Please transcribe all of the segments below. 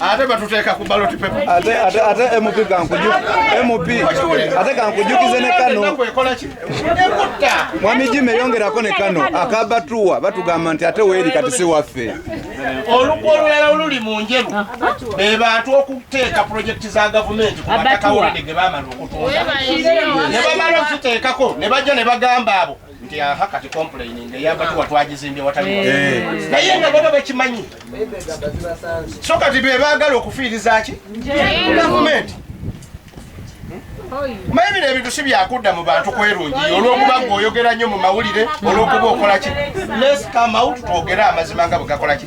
ate batuteeka ku ballot paper ate ate ate MP kankuju MP ate kankujukize ne kano mwami Jimmy yongerako ne kano akabatuwa batugamba nti ate weeri kati si waffe olukwa olulala oluli mu njeru be bantu okuteeka pulojekiti za gavumenti ku mataka wulide ge baamala okutunda ne bamala okuziteekako ne bajja ne bagamba abo nti aha kati complaining eyamba tuwa twagizimbye watali eh. Eh. naye nga baba bakimanyi so kati bebaagala okufiirizaki gavumenti maye bino ebintu si byakudda mu bantu kwerungi olwokuba nga oyogera nnyo mu mawulire olwokuba okolaki les come out twogere amazima nga bwegakolaki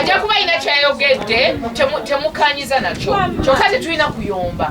ajja kuba alina kyayogedde temukanyiza nakyo kyokka tetulina kuyomba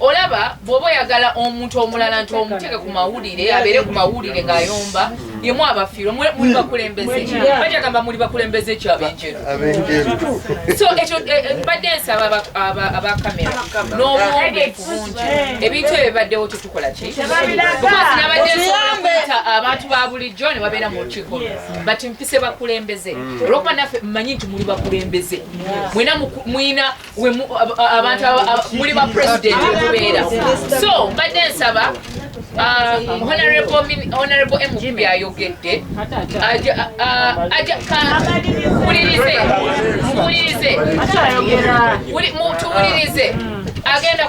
olaba bwoba oyagala omuntu omulala nti omuteke ku mawulire abeere ku mawulire ng'ayomba yemu abafiirwa muli hmm. bakulembeze bajagamba muli bakulembeze kyo abenjeru so ekyo eh, eh, mbadde nsaba abakamera n'obwombeefu bungi ebintu ebyo bibaddewo tetukola ki because nabadde nsobola okuyita abantu ba bulijjo ne babeera mu lukiiko but mpise bakulembeze hmm. olwokuba naffe mmanyi nti muli bakulembeze mwena muyina abantu muli ba president okubeera so mbadde nsaba Uh, honorable honorable mp ayogedde muwulirize muwulirize tuwulirize agenda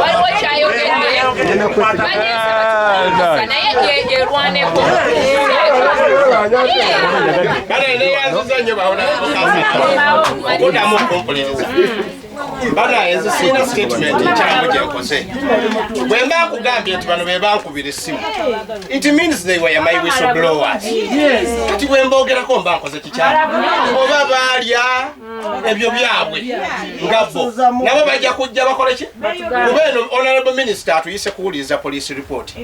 waliwo kyayogedde naye yerwaneko bana ezo sirina statement ekyamu gyenkoze bwe mba nkugambye nti bano be bankubira essimu it means they were my whistle blowers kati bwe mbogerako mba nkoze kikyamu oba baalya ebyo byabwe nga bo nabo bajja kujja bakole ki kuba eno honorable minister atuyise kuwuliriza police report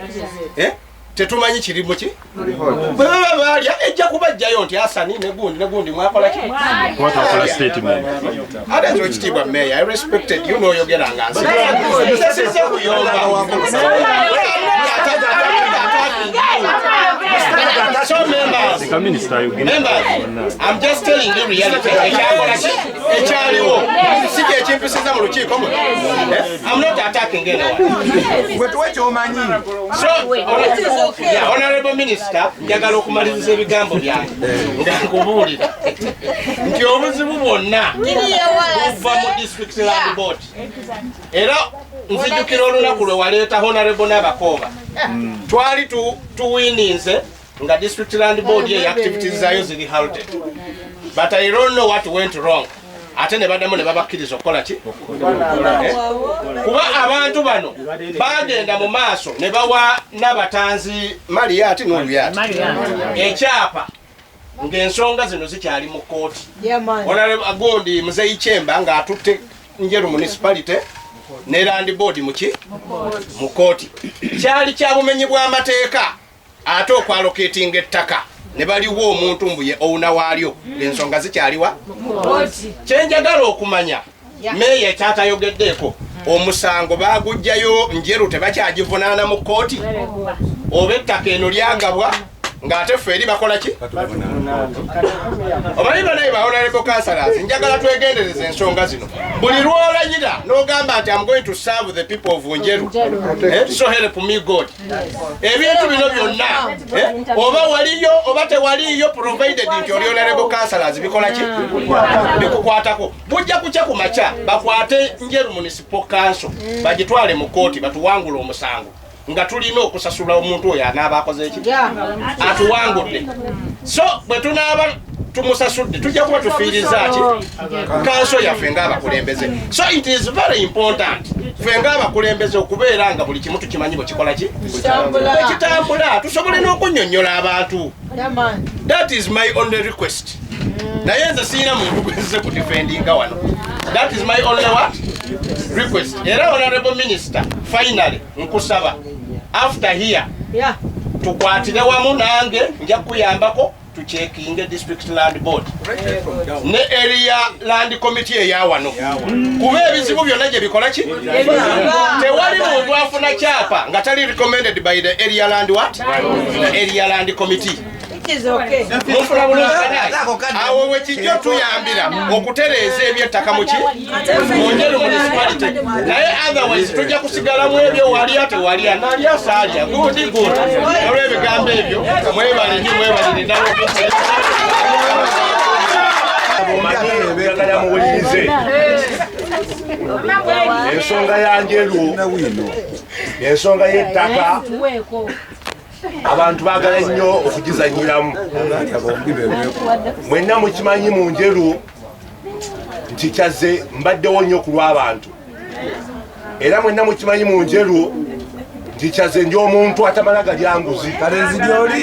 eh? tetumanyi kirimu ki bwebaba baalya ejja kubajjayo nti asani negundi negundi mwakola ki ate nti okitiibwa meya respected you nooyogera nga nsi sesize kuyomba so members members I'm just telling you reality. Ekyaliwo si kye kimpisiza mu lukiiko muno. Eh? I'm not attacking anyone. Gwe tuwe ky'omanyi. So, yeah, honorable minister, njagala okumaliriza ebigambo byange nga nkubuulira nti obuzibu bwonna buva mu district land board era nzijukira olunaku lwe waleeta honorable n'abakooba hmm. twali tuwininze nga district land board ye activities zayo ziri halted but i don't know what went wrong ate ne badamu ne babakkiriza okukola ki eh? kuba abantu bano bagenda mu maaso ne bawa nabatanzi maliyati noluyati ekyapa ngaensonga zino zikyali mu kooti onagundi muzeyi kyemba ngaatutte njeru municipality ne land board muki mu kooti kyali kyabumenyi bwamateeka ate okwaloketinga ettaka ne baliwo omuntu mbu ye owuna waalyo ensonga zikyaliwa kyenjagala okumanya meeya ekyatayogeddeeko omusango bagujjayo njeru tebakyagivunaana mu kkooti oba ettaka eno lyagabwa ng'ate ffe eri bakola ki omanyi banaye baonalebo kansalas njagala twegendereza ensonga zino buli lwolanyira n'ogamba nti am going to serve the people of njeru eh, so help me god ebintu bino byonna eh, oba waliyo oba tewaliyo provided nti olyonalebo kansalas bikola ki bikukwatako bujja kukya ku makya bakwate njeru municipal kanso bagitwale mu kooti batuwangula omusango nga tulina okusasula omuntu oyo anaaba akoze eki atuwangudde so bwe tunaaba tumusasudde tujja kuba tufiiriza ki kanso yaffe ngaabakulembeze so it is very important ffe ngaabakulembeze okubeera nga buli kimu tukimanyi bwekikola ki ekitambula tusobole n'okunyonyola abantu that is my only request naye nze siyina muntu gwezze ku defendinga wano that is my only what request era honorable minister finally nkusaba after here tukwatire wamu nange nja kukuyambako tukyekinge district land board ne area land committee eya wano kuba ebizibu byonna gye bikola ki tewali muntu afuna kyapa nga tali recommended by the area land what the area land committee mufuna bulungi awo wekijja otuyambira okutereeza ebyettaka muki naye otherwise tujja kusigalamu ebyo walya tewalya nalya saaja gundi gundi olwebigambo ebyo mwebale nyo mwebalire nawe ensonga yanjelwo ensonga yettaka abantu bagala nnyo okugizanyiramu mwenna mukimanyi mu njeru nti kyazze mbaddewo nnyo ku lw'abantu era mwenna mukimanyi mu njerwo nti kyazze ndi omuntu atamala galyanguzi kalenzi gyoli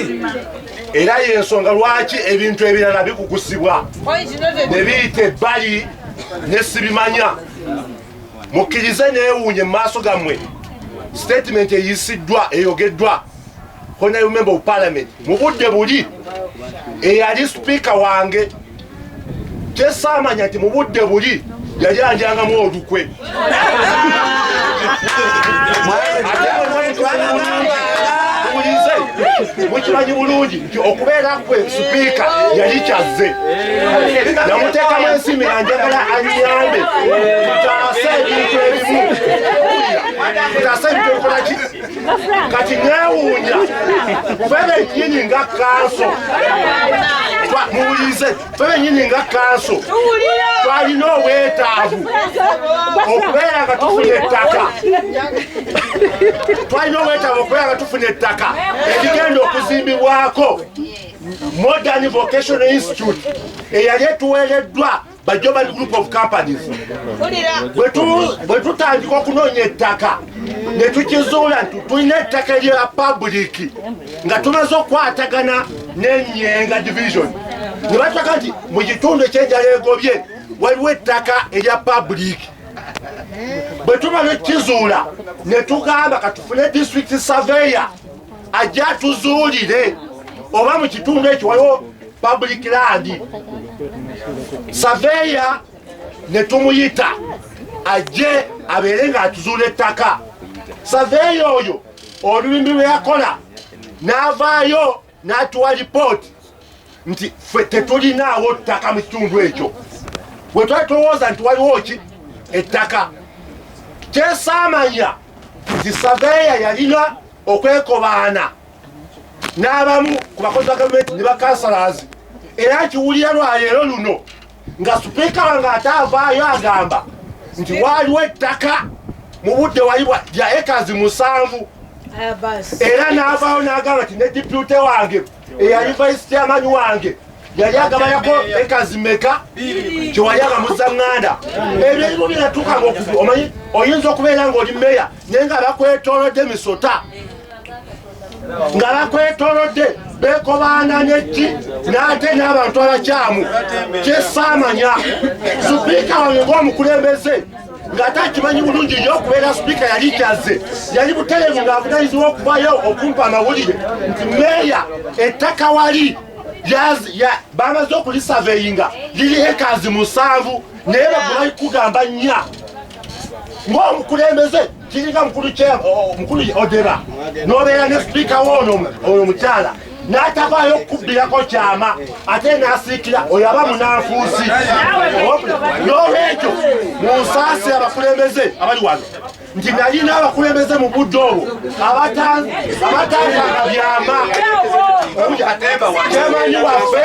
era yensonga lwaki ebintu ebirala bikukusibwa ne biyita ebbali nesibimanya mukkirize neewuunye mu maaso gammwe sitatimenti eyisiddwa eyogeddwa honaremember of parliament mu budde buli eyali sipiika wange kyesaamanya nti mu budde buli yali andyangamu olukwe mukimanyi bulungi nti okubeera kwe sipiika yali kyazze namuteekamu ensimbi nga njagala anyambe tutaase ebintu ebimu tutaase ebintu ebikolaki kati newuunya fe benyini nga kanso muwulize fe benyini nga kanso twalina obwetaavu okubeera nga tufuna ettaka twalina obwetaavu okubeera nga tufuna ettaka erigenda okuzimbibwako modern vocational institute eyali etuweereddwa Bajoban Group of Companies bwe tutandika okunoonya ettaka ne tukizuula nti tulina ettaka lya pabuliki nga tumaze okukwatagana n'enyenga division ne bataka nti mu kitundu ekyenjala egobye waliwo ettaka erya pabuliki bwe tuba nekizuula ne tugamba katufune district surveyor ajja tuzuulire oba mu kitundu ekyo waliwo public land saveya netumuyita ajje abeere ng'atuzuula ettaka saveya oyo olulimi lwe yakola n'avaayo n'atuwa lipooti nti ffe tetulinaawo ttaka mu kitundu ekyo bwe twali tulowooza nti waliwo ki ettaka kyesaamanya nti saveya yalina okwekobaana n'abamu ku bakozi ba gavumenti ne bakansalazi era akiwulira lwaleero luno nga sipiika wange ate avaayo agamba nti waaliwo ettaka mu budde walibwa lya ekazi musanvu era n'avaayo n'agamba nti ne dipyute wange eyali vaisi kyamanyi wange yali agabayako ekazi meka kyewali agamuza ŋŋanda ebyo ebimu byeyatuukanga okubi omanyi oyinza okubeera ng'oli meya naye nga bakwetolodde misota nga bakwetolodde bekobaana nekki n'ate n'abantu abakyamu kyesaamanya supiika wange ng'omukulembeze ng'ate akimanyi bulungi nyo okubeera supiika yali kyazze yali buterevu ng'avunanyizibwa okuvayo okumpa amawulire nti meeya ettaka wali bamaze okulisaveyinga liri ekazi musanvu naye bagulaikugamba nnya ng'omukulembeze kiringa mukulu mukulu odeba nobeera ne sipiika woono oyo mukyala n'atavaayo okukubbirako kyama ate n'asiikira oyo aba munanfuusi n'olwekyo munsaasi abakulembeze abali wano nti nalina abakulembeze mu budde obwo abatanganga byama kyemanyi waffe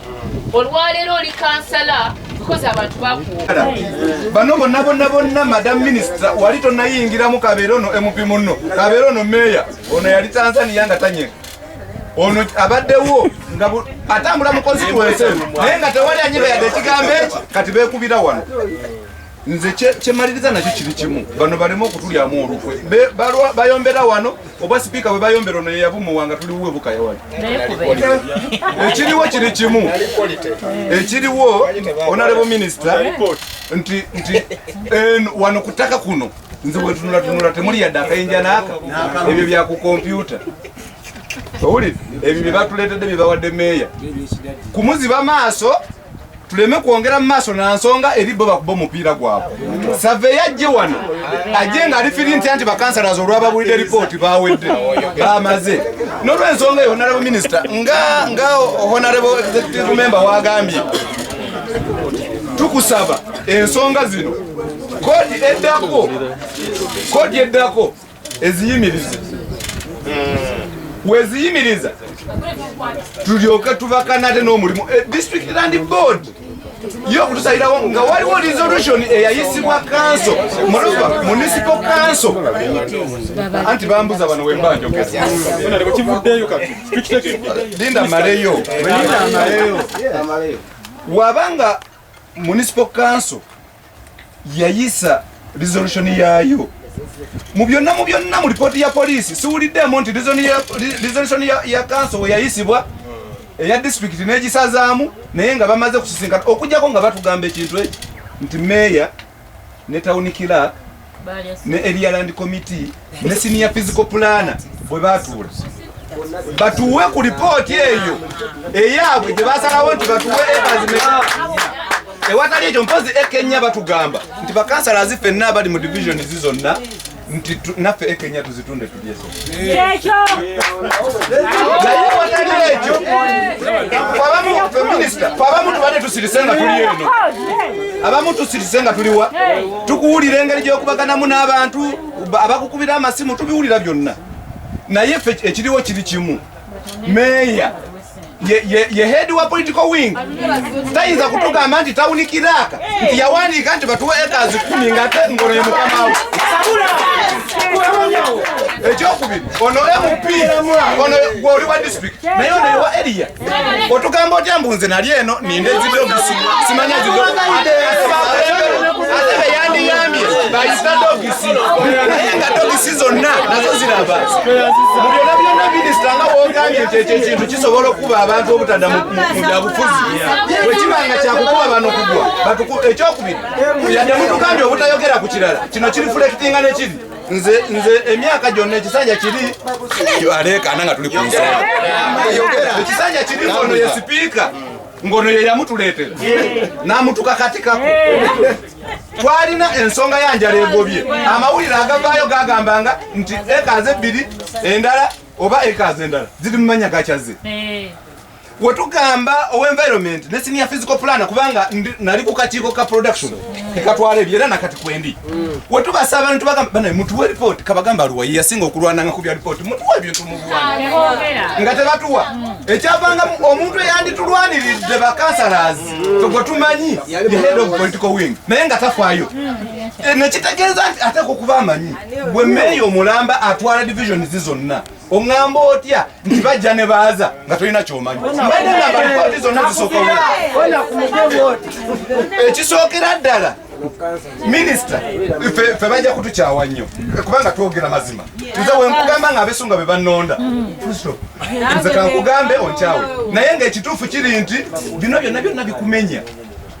olwaleero oli kansala because abantu bakuwuka bano bonna bonna bonna madam minister wali tonayingiramu kabeera ono mp munno kabeera ono meeya ono yali tanzania nga tanyeka ono abaddewo nga atambula mu constituency naye nga tewali anyega yadde ekigambo eki kati bekubira wano nze kyemaliriza nakyo kiri kimu bano baleme okutulyamu olukwe bayombera wano oba sipiika bwe bayombera ono yeyabumuwa nga tuliwo ebukaya wali ekiriwo kiri kimu ekiriwo onalebo minisita nti wano ku ttaka kuno nze wetunulatunula temuli yadde akayinja naaka ebyo bya ku kompyuta owulire ebyo bye batuleetedde bye bawadde meeya kumuziba maaso tuleme kwongera mu maaso na nsonga eri bo bakuba omupiira gwabwe save yajje wano ajje nga alifiri ntya nti bakansalaza olwababulidde ripooti bawedde bamaze nolwensonga eyo honarebo minisita nga nga honarebo executive member wagambye tukusaba ensonga zino kodi eddako kodi eddako eziyimiriza weziyimiriza tulyoke tubakana ate n'omulimu eh, district land board yo okutusalirawo nga waliwo resolution eyayisibwa kanso muluba municipal kanso anti bambuza bano wembanjogelinda maleyo wabanga municipal kanso yayisa resolution yaayo mu byonna mu byonna mu lipooti ya poliisi siwuliddemu nti resolution ya kanso weyayisibwa eya disitulikiti n'egisazaamu naye nga bamaze kusisinkana okujjako nga batugamba ekintu ekyo nti meeya ne tawuni kiraaka ne area land committee ne senior physical planner bwe batuula batuwe ku lipooti eyo eyaabwe gye basalawo nti batuwe ebazimeka ewatali ekyo mpozi ekenya batugamba nti bakansala zifenna abali mu divisioni zizonna nti naffe ekenya tuzitunde tulyeza abamu tubadde tusirise nga tuli eno abamu tusirise nga tuliwa tukuwulira engeri gyokubaganamu n'abantu abakukubira amasimu tubiwulira byonna naye ekiriwo kiri kimu meeya ye head wa political wing tayinza kutugamba nti tawuni kiraka nti yawandiika nti batuwa ekazi kumi nga ate ngono ye mukamawo ekyokubiri ono mp ono gwoli wa district naye ono ewa eriya otugamba otya mbu nze nali eno ninde zidogisi simanya zidogisi ate beyandiyambye bayita dogisi naye nga dogisi zonna nazo ziraba mubyona byona minisita nga wogambye nti ekyo ekintu kisobola okukuba abantu obutadda mubyabufuzi bwekiba nga kyakukuba bano kugwa ekyokubiri yadde mutugambye obutayogera ku kirala kino kiri fulekitinga nekiri nze nze emyaka gyonna ekisanja kiri aleekaana nga tuli ku nsonga ekisanja kiri ono ye sipiika ngono ye yamutuleetera n'amutuka katikako twalina ensonga ya njala egobye amawulire agavaayo gagamba nga nti ekazi ebbiri endala oba ekazi endala ziri mu manya gakyaze wetugamba owenvironment ne senior physical planner kubanga nali ku kakiiko ka production tekatwala ebyo era nakati kwendi mm. wetubasa abantu bagamba mutuwe ripoti kabagamba luwa yeyasinga okulwananga ku bya ripoti mutuwe ebintu mubuwana nga tebatuwa mm. ekyavanga omuntu eyanditulwaniridde bakansalaas mm. togwe tumanyi the head of political wing naye nga tafaayo eh, nekitegeeza nti ateeka okuba amanyi bwe meeyo omulamba atwala divisioni zi zonna oŋŋamba otya nti bajja ne baaza nga tolina kyomanyi mbadde nga balipoti zonna zisokola ekisookera ddala minisita fe bajja kutukyawa nnyo kubanga twogera mazima nze wenkugamba nga abesunga be bannonda nze kankugambe onkyawe naye ngaekituufu kiri nti bino byonna byonna bikumenya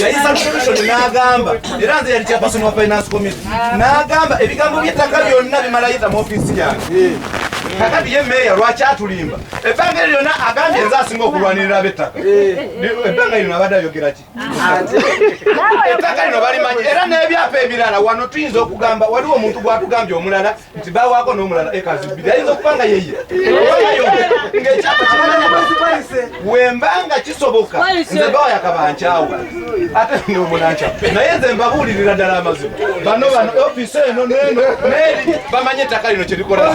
yayisa commission n'agamba era nze yali chairperson wa finance committee n'agamba ebigambo by'ettaka byonna bimalayita mu ofiisi yange kakati ye meeya lwaki atulimba ebbanga eryo lyonna agambye nze asinga okulwanirira ab'ettaka ebbanga lino abadde ayogera ki ettaka lino balimanyi era n'ebyapa ebirala wano tuyinza okugamba waliwo omuntu gwatugambye omulala nti bawako nomulala ekazi bbiri ayinza okuba nga yeye ngaekyapa kimanakwezipalise wemba nga kisoboka nze bawa yakabankyawo ate nomunankya naye nze mbabuulirira ddala amazima bano bano ofisi eno neno neri bamanye ettaka lino kyerikola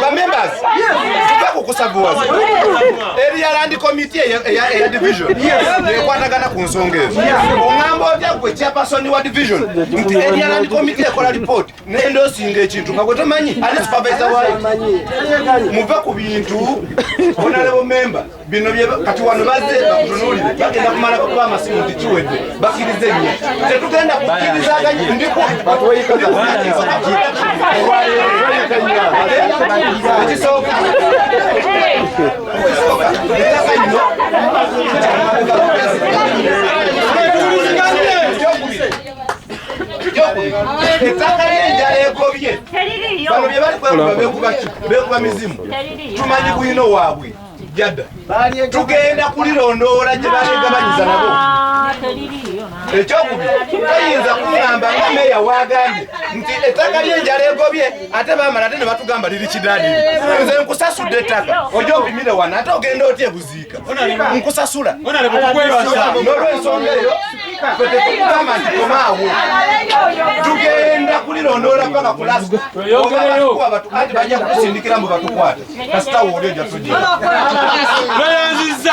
bamembers tuve kukusavuwaza eriya landi komiti eya division ekwatagana ku nsonga ezo oŋamba otya gwe chairperson wa division nti eriya landi komiti ekola report nenda osinga ekintu nga gwetomanyi ali supavaisa wayo muve ku bintu onalebo memba bino kati wano baze bakutunulire bagenda kumala kuba amasimu nti kiwedde bakiriza ennyo tetugenda kukirizaganyi ndiku ekisooka ettaka ly'enjala egobye bano bye bali kwekuba bekuba ki bekuba mizimu tumanyi bwino waabwe jada tugenda kulirondoola gye balegabanyiza nabo ah, ekyokubiri toyinza kugamba nga meeya wagambye nti ettaka lyenjala egobye ate bamala ate ne batugamba liri kidadiri nze nkusasudde ettaka oja opimire wano ate ogenda otya ebuziibu nkusasula nolwensonga eyo fetekugamba nti komaawo tugenda kulirondoola paka kulasikuba batu anti bajja kutusindikira mbu batukwate kasita wooli oja tujiayanziza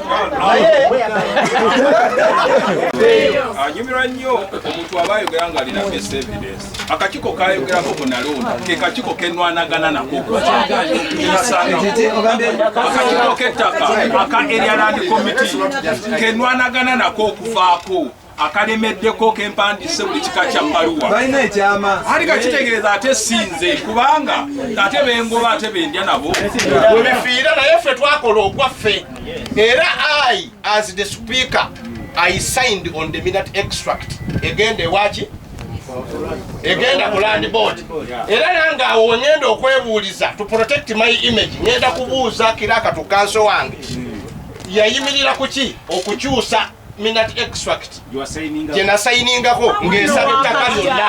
anyumirwa nnyo omuntu aba ayogera nga alina best evidence akakiko kayogerako ku nalonda ke kakiko kenwanagana nako akakiko kettaka aka erialandi committee kenwanagana nako okuvaako akalemeddeko kempandise buli kika kya baluwa balina ekyama ali kakitegeeza ate sinze kubanga ate bengoba ate bendya nabo webifiira naye ffe twakola ogwaffe era i as the speaker i signed on the minute extract egenda ewaki egenda ku land board era nange awo wengenda okwebuuliza to protect my image ngenda kubuuza kiraakatu kanso wange yayimirira kuki okukyusa minat extract gye nasayiningako ng'ensaba ettaka lyonna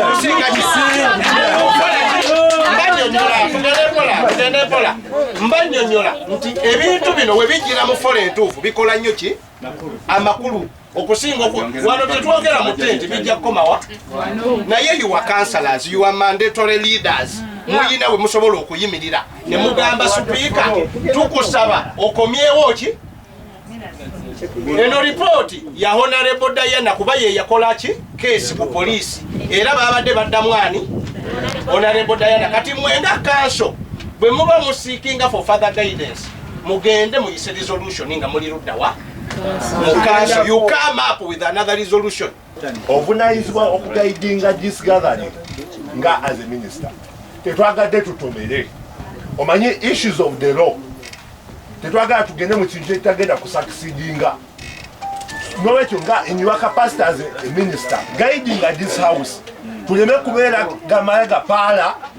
okusinga kisingaekola mba nnyonnyola nti ebintu bino we bijjira mu fola entuufu bikola nnyo ki amakulu okusinga wano tetwogera mu tenti bijja kukomawa naye yuwa councilors yuwa mandatory leaders muyina we musobola okuyimirira ne mugamba sipiika tukusaba okomyewo ki eno lipooti ya honarebo diana kuba yeyakola ki keesi ku poliisi era babadde baddamu ani honarebo diana kati mwenga kanso bwe muba musiikinga for father guidance mugende muyise resolution nga muli luddawa mukanso you come up with another resolution obunayizibwa okugaidinga this gathering nga as a minister tetwagadde tutomere omanyi issues of the law tetwagala tugende mu kintu ekitagenda kusakisidinga nolwekyo nga in your capacity as a minister guiding at this house tuleme kubeera gamala gapaala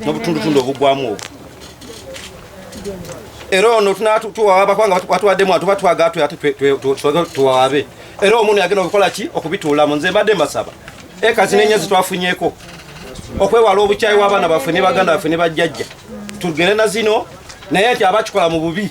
n'obutundutundu obugwamu obwo era ono tunatuwawaba kubanga batuwaddemu atuba twagala tuwawabe era omuntu yagenda okukola ki okubituulamu nze mbadde mbasaba ekazi nenya zitwafunyeko okwewala obukyayi w'abaana baffe ne baganda baffe ne bajjajja tugere na zino naye nti abakikola mu bubi